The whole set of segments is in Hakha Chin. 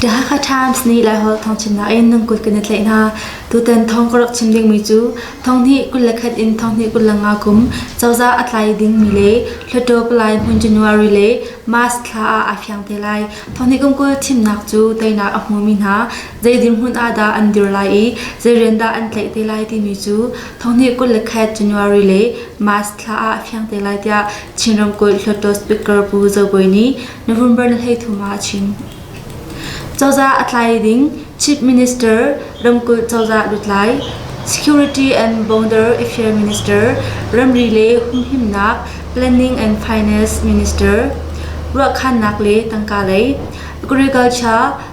The Hakha Times nih Laiholh thawngchimnak in nan kut kan i tlaih hna. Tutan thawng ka rak chim dingmi cu thonghnih kul le khat in thonghnih kul le nga kum cozah a tlai dingmi le Hluttaw Palai hmun January le March thla ah aa fiang te lai. Thonghnih kum kul thimnak cu teinak a hmumi hna zei dirhmun ah dah an dir lai i zei rian dah an tlaih te lai timi cu Thawngnih kul le khat January le March thla ah fiang te lai tiah Chin ramkulh Hluttaw Speaker Pu Zo Bawi nih November ni thum ah a chim. Cozah a tlai ding Chief Minister ramkulh cozah lutlai Security and Border Affairs Minister ramri le humhimnak Planning and Finance Minister ruahkhannak le tangka lei agriculture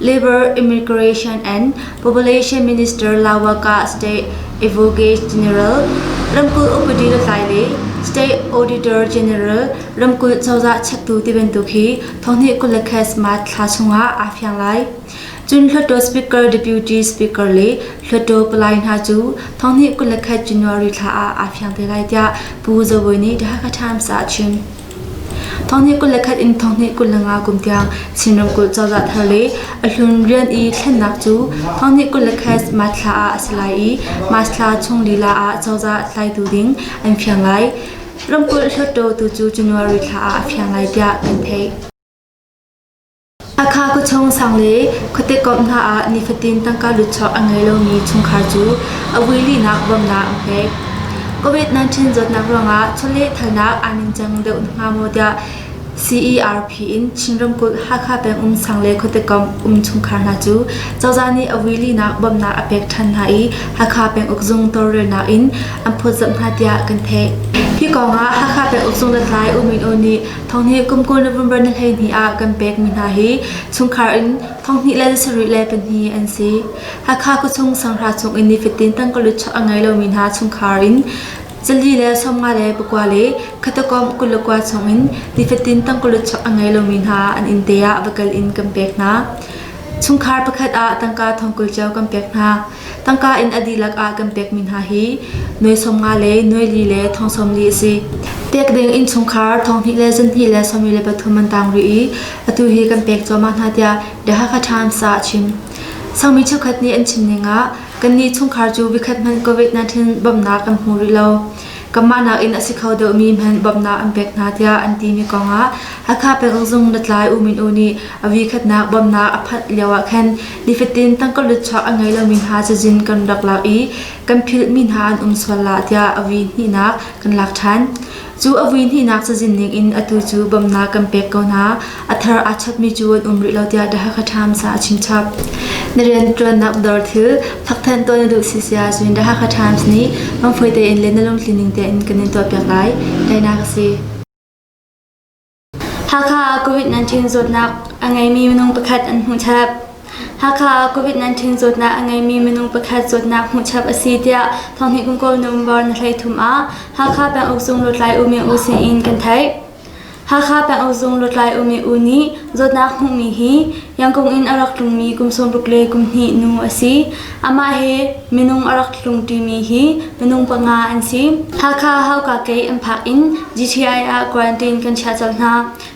Labour Immigration and Population Minister Lawaka State Advocate General ramkulh upadi lutlai le State Auditor General ramkulh cozah chektu tibantuk hi thonghnih kul le khes March thla chungah aa fiang lai. Cun Hluttaw Speaker Deputy Speaker le Hluttaw palai hna cu thonghnih kul le khet January thla ah aa fiang te lai tiah Pu Zo Bawi nih The Hakha Times ah a chim. Thonghnih kul le khat in thonghnih kul le nga kum tiang Chin ramkulh cozah thar le a hlun rian i thlennak cu thonghnih kul le khat March thla ah a si lai i March thla chung lila ah cozah tlaitu ding an fiang lai. Ramkulh hluttaw tu cu January thla ah a fiang lai tiah kan theih. Akha khuachung sang le khuatekomh hna ah nifatin tangka lutchuak a ngei lomi chungkhar cu a vui lihnak bawmnak an pek. COVID-19 zawtnak ruangah chawlehthalnak aa ningcang deuh hnga maw tiah CERP in Chin ramkulh Hakha peng um sang le khuatekomh um chungkhar hna cu cozah nih a vui lihnak bawmnak a pek ṭhan hna i Hakha peng ukzung tawlrelnak in an phawtzamh hna tiah kan theih. Hi kongah Hakha peng ukzung hlathlai U Min Oo nih Thong hi kum kul November ni hleihnih ah kan pekmi hna hi chungkhar in thong hnih le sarih le pahnih an si. Hakha khuachung sanghra chung in nifatin tangkalut chuah a ngei lomi hna chungkhar in Zali le sawmnga le pakua le khatakawm kul le kua chung in nifatin tangkalut chuah a ngei lomi hna an inn te ah va kal in kan pek hna. Chungkhar pakhat ah tangka thong kul cio kan pek hna. Tangka in a dihlak ah kan pekmi hna hi nuai sawm nga le nuai li le thong sawm li a si. Pek ding innchungkhar thong hnih le zunhnih le sawmli le pathum an tang rih i atu hi kan pek cuahmah hna tiah The Hakha Times ah a chim. Sangmi cheukhat nih an chimning ah kannih chungkhar cu vikhat hmanh COVID-19 bawmhnak kan hmu rih lo. Kanmah nakin a si kho deuhmi hmanh bawmhnak an pek hna tiah an timi kong ah Hakha pekzung latlai U Min U nih a vikhatnak bawmhnak a phanh lio ah khan Nifatin tangka luchuak a ngei lomi hna cazin kan rak lak i kan philhmi hna an um sual la tiah a vui hnihnak kan lak ṭhan. Cu a vui hnihnak cazin ningin atu cu bawmhnak kan pek ko hna. A thar aa chapmi cu an um rih lo tiah The Hakha Times ah a chimchap. Na rianṭuannak dawr thil thawkthan tuah na duh si sia cun The Hakha Times nih mangfui tein le na lungtli ning tein kan in tuahpiak lai. Tainak a si. Hakha ah COVID-19 zawtnak a ngeimi minung pakhat an hmuh chap. Hakha ah COVID-19 zawtnak a ngeimi minung pakhat zawtnak hmuh chap a si tiah Thonghnih Kum Kawl November ni hleithum ah Hakha Penguk Zung Lutlai Umi U sin in kan theih. Hakha Penguk Zung Lutlai Umi U nih zawtnak hmuhmi hi Yangkung in a rak tlungmi kum sawmruk le kum hnih nu a si. Amah hi minung a rak tlung ṭimi hi minung panga an si. Hakha Hauka-Kei an phak in GTI ah quarantine kan chiah colh hna.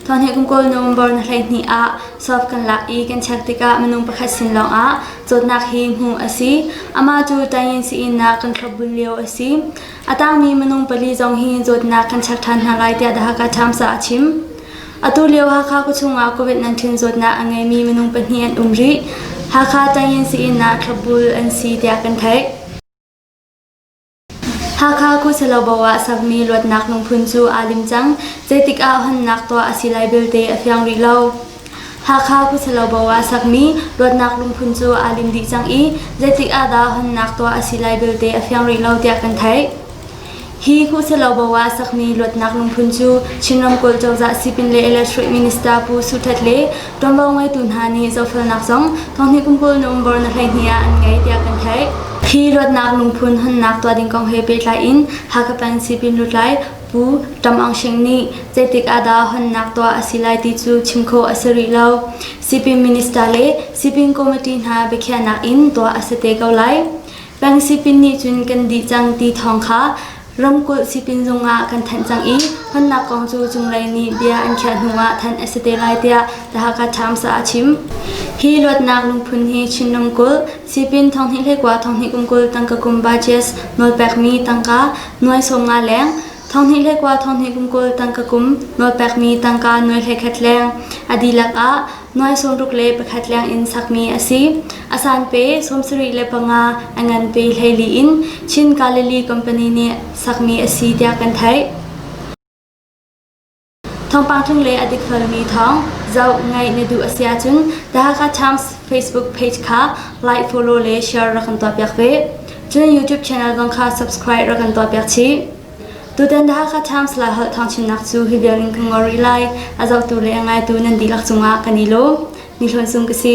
Thawngthei kum kawlnung bor na hleihnih ah sof kan lak i kan check tikah minung pakhat sin lawngah zawtnak hi hmuh a si. Amah cu tanyin sii-innak kan thlopbun lio a si. A tangmi minung pali zong hi zawtnak kan check ṭhan hna lai tiah The Hakha Times ah a chim. Atulio Hakha khuachung ah Covid 19 zawtnak a ngeimi minung pahnih an um rih. Hakha Tangyin Sii-inn ah thlopbul an si tiah kan theih. Hakha Khu Salobo ah sakmi luatnak lungphun cu aa lim cang. Zeitik ah honnak tuah a si lai belte a fiang rih lo. Hakha Khu Salobo ah sakmi luatnak lungphun cu aa lim dih cang i zeitik ah dah honnak tuah a si lai belte a fiang rih lo tiah kan theih. Hi hmuhselo Bawa sakmi luatnak lungphun cu Chin ramkulh cozah sipin le electric minister Pu Su Htet le ṭuanvo ngeitu hna nih zohfelnak zong thonghnih kum kul na um bor na hleihnih ah an ngei tiah kan theih. Hi luatnak lungphun hunnak tuah ding kong he pehtlai in Hakapan sipin lutlai Pu Tam Aung Shing nih zeitik ahdah honnak tuah a si lai ti cu chim khawh a si rih lo. Sipin minister le sipin committee hna biakhiahnak in tuah a si te ko lai. Pangsipin nih cun kan dih cang ti thawng kha ramkulh sipin zung ah kan thanh cang i hmannak kong cu cunglei nih bia an khiah hnuah thanh a si te lai tiah The Hakha Times ah a chim. Hi luatnak lungphun hi Chin ramkulh, sipin thonghnih le kua thonghnih kumkul tangka kum budgets nawlpekmi tangka nuai sawm nga leng, thonghnih le kua thonghnih kumkul tangka kum nawlpekmi tangka nuai hlekhet leng a dihlak ah nuai sawmruk le pakhat lengin sakmi a si. A san pe sawmsarih le panga a ngan pe hleili in Chin Galilee Company nih sakmi a si tiah kan theih. Thawngpang chung le a dikfelmi thawng zoh ngaih na duh a si ahcun The Hakha Times Facebook page kha like, follow le share rak kan tuah piak ve. Cun YouTube channel zong kha subscribe rak kan tuah piak chih. Tutan Hakha Times Lai holh thawngchimnak cu hi vialin ka ngol rih lai. A zohtu le a ngaitu nan dihlak cungah kan i lawm. Ni Hlawn Sung ka si.